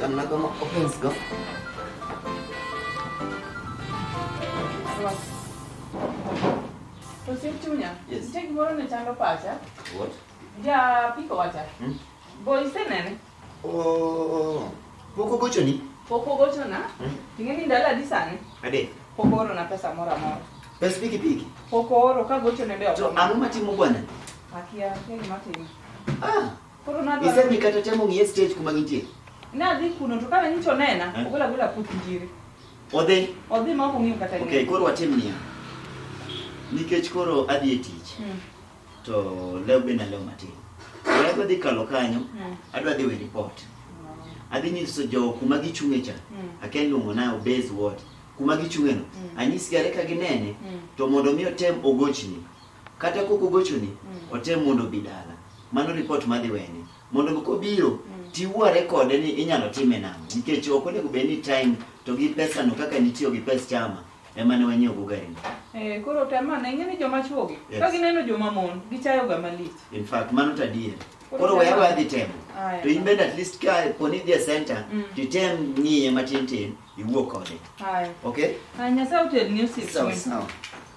Tam na go open go. Osiep chunya. Yes. Nitie gimoro ne chando pacha. What? Ja piko wacha. Hmm? Bo isenene? Oh. Pok ogochoni? Pok ogochona. Hmm? Ing'e ni ndalo adi sani? Ade. Pok oorona pesa moro amora. Pes pikipiki? Pok ooro ka gochone be ok. To ang'o matimo bwana? Akia, akia gima timo. Ah. Koro na dwa. Isemi kata temo ng'iye stage kuma gintie. Na dhi kuno to kana nyicho nena, Eh? ogola gola puth njiri. Odhi. Odhi ma ok ong'iyo kata Okay, ng'eyo. koro watim niya. Nikech koro adhi e tich Mm. to leo be naleo matin. Koro adwa dhi kalo kanyo, Mm. adwa dhi we report. Adhi nyiso jo kuma gichung'e cha. Mm. Akia luongo na obez ward. Kuma gichung'e no. Mm. Anyisgi are ka ginene Mm. to mondo mi otem ogochni. Kata kok ogochoni, mm. otem mondo obi dala. Mano ripot madhi wene. Mondo moko obiro, mm. tiwuore kode ni inyalo time nang'o. Nikech ok onego bed ni time to gi pesano kaka nitiyo gi pes chama ema ne wanyiewo go gari no. Eh, koro tem ane ing'e ni joma chwo gi yes. ka gineno joma mon gichayo ga malich. In fact mano to adier. Koro weya wadhi temo. Ah, to in bende at least ka poni dhi e center mm. to item ng'iye matin tin iwuo kode. Okay? Ah, Nyasaye otelni osiepe. Sawa sawa.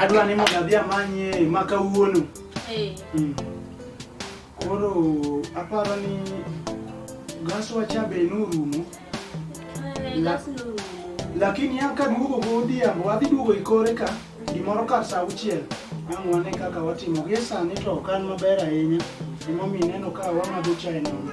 Adwa ni mondo adhi amanye ma kawuono. Eh. Mm. Koro aparo ni gas wacha be norumo. Eh, gas norumo. Lakini an kaduogo godhiambo adhi duogo ikore ka gimoro kar sa auchiel ang' wane kaka watimo. Gie sani to ok an maber ahinya emomiyo ineno ka wamadho chae nono.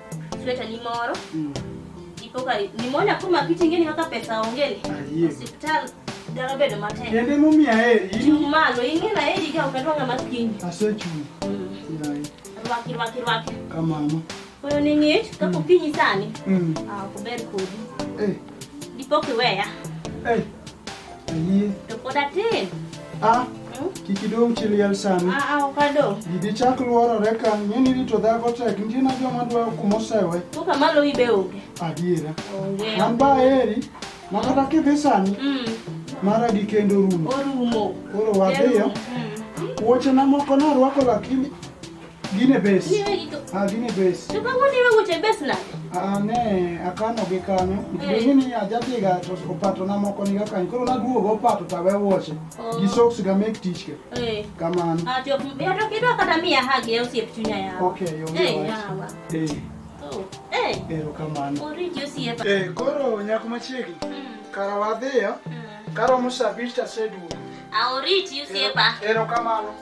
Sweta ni moro. Mm. Ipoka ni mona kuma kiti ngeni kaka pesa ongele. Ah, Hospital dara bedo mate. Yende mumi ya heri. Juu malo ingi na heri ga ukatoa nga maskini. Ase chuni. Mm. Yai. Rwaki rwaki rwaki. Kama ama. Koyo ni ngit kako mm. kinyi sani. Mm. Ah, kuberi kudi. Eh. Ipoki weya. Eh. Ayie. To pod atin. Ah, kik idong chi liel sani. Ah, ah, ok adong. Gidi chak luorore ka, ng'e ni rito dhako tek, nitie na joma dwaro kuma osewe. To kama lowi be onge. Adiera. Onge. An ba eri, ma kata kidhi sani, Mm. mara gi kendo rumo. Orumo. Koro wadhiyo. Mm. Wuochena moko narwako lakini Gine base. Niwe gitu. Ah, gine base. Coba gue niwe gue cebes lah. Ah, ne, akano ge kanyo. Gine ni ajati ga to opato na moko ni ga kanyo. Koro na guo go opato ta we woche. Oh. Gi socks ga make teach ke. Eh. Kamano. Ah, to ya to kido kata miya hagi ya usiep chunya ya. Okay, yo. Eh, ya wa. Eh. Oh. Eh. Eh, kamano. Ori jo siep. Eh, koro nyako machiegni. Hmm. Kara wadhiyo. Hmm. Kara musabirta sedu. Aoriti ah, usiepa. Ero kamano.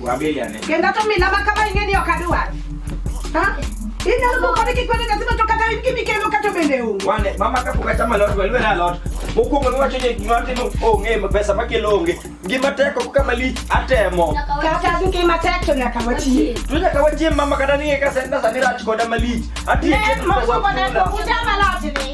Wabeyane. Kenda to mila ma kama ing'e ni ok adwar. Ha? Inyalo moko ni kik wene nyathi to kata in kimikelo kata bende um. Wane, mama ka pok achamo alot, we lwera alot. Mokwongo niwacho ni gima atimo onge, ma pesa makelo onge. Gima tek ok kama lich, atemo. Kata duke matek to nyaka wachie. To nyaka wachiem mama kata ni ka senda sani rach koda malich. Atiyo Ne, tich pesa mokwongo ne punda. pok uchamo alot ni.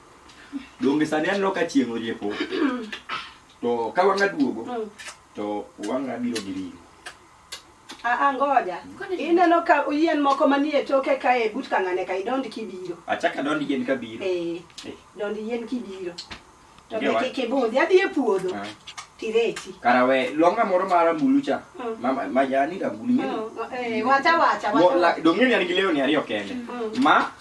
Donge sani aneno ka chieng' oriepo. To ka wang'a duogo Mm. to wang'a biro gi ringo. Aa ngoja. Ineno ka yien moko manie toke kae but kang'ane ka idond kibiro. Achaka dond yien ka biro. Eh. Eh. Dond yien kibiro. To Ngewa. be kik ibudhi adhi e puodho Ah. tireti. Kara we longa moro mar ambulu cha. Mm. Mama majani rambulu. Mm, eh, wacha wacha Mo- wacha. la- Donge ni an gi lewni ariyo kende. Mm. Ma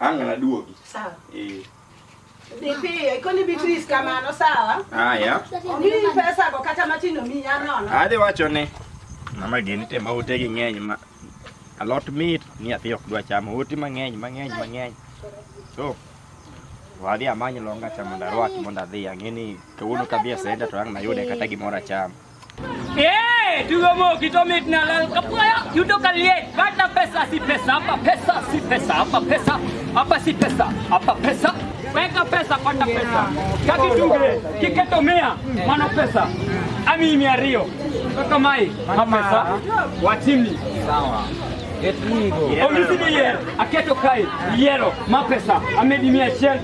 Ang' anaduogi. Sawa. Eh. Nipiyo, ikoni Beatrice kamano sawa? Haya. Omiyi pesa go kata matin omiyi anono. Adhi wacho ni mama gini te ma ote gi ng'eny ma alot mit ni athi ok dwa chamo ote mang'eny mang'eny mang'eny. So wadhi amany longa cha mondo arwaki mondo adhi ang'e ni kawuono kadhi e senta to ang' nayude kata gimoro achamo. Hey, tugomo kitomit na lal kapaya yudo kaliet bata pesa si pesa hapa pesa si pesa hapa pesa hapa si pesa hapa pesa weka pesa pata pesa kakitugre kiketomea mano pesa ami mia rio kaka mai pesa watimi sawa Omisidiye aketo kae yero mapesa amedi mia achiel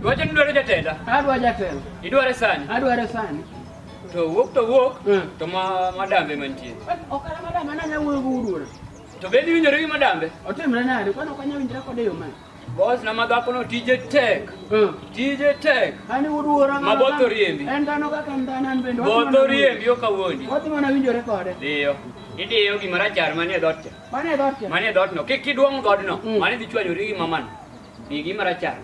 Dwache ni dwaro jatenda? Adwa jatelo. Idware sani? Adware sani. To wuok to wuok Mm. to ma madambe mantie. Okara madam ana nya wuoyo guduora. To be iwinjore gi madambe? Otimre nade? Kwani ok anyal winjra kode yo mane? Boss na madhakono tije tek. Mm. Tije tek. Ani uduora Ma both oriembi. En dhano kaka en dhano an bende. Both oriembi ok awuondi. Odhi mana winjore kode. Diyo. Idiyo gima rachar manie dhoot cha. Mano e dhoot mano e dhootno kik iduong' dhoodno mm. mano idhi chwanyori gi mamano igi marachar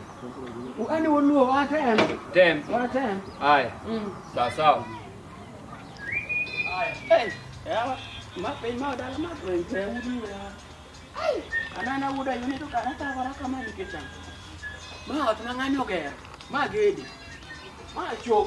ani woluo watem tem watem aya mm. sawa sawa mapiny ma odala mapiny te uduwe anana wuda yuni to kana tawara kama nikech ang' ma ot ma ng'ani ogero ma gedi ma chop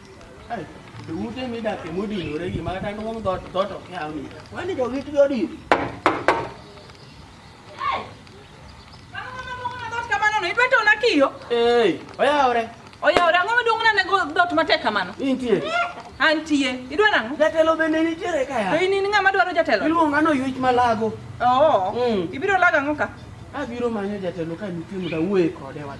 Ute midake modinore gi ma kata duong' dhoot dhoot ok yaw ni. Wani to git jodin. Idwa tona kiyo? Ee, oyawore. Oyawore ang'o maduong' nane go dhoot matek kamano? Intie. Antie. Idwa nang'o? Jatelo bende nitiere ka ya. To in in ng'ama dwaro jatelo? Iluonga no yuech malago. Oo. Mm. Ibiro lago ang'o ka? Abiro manyo jatelo ka nitie mondo awuoye kode wach.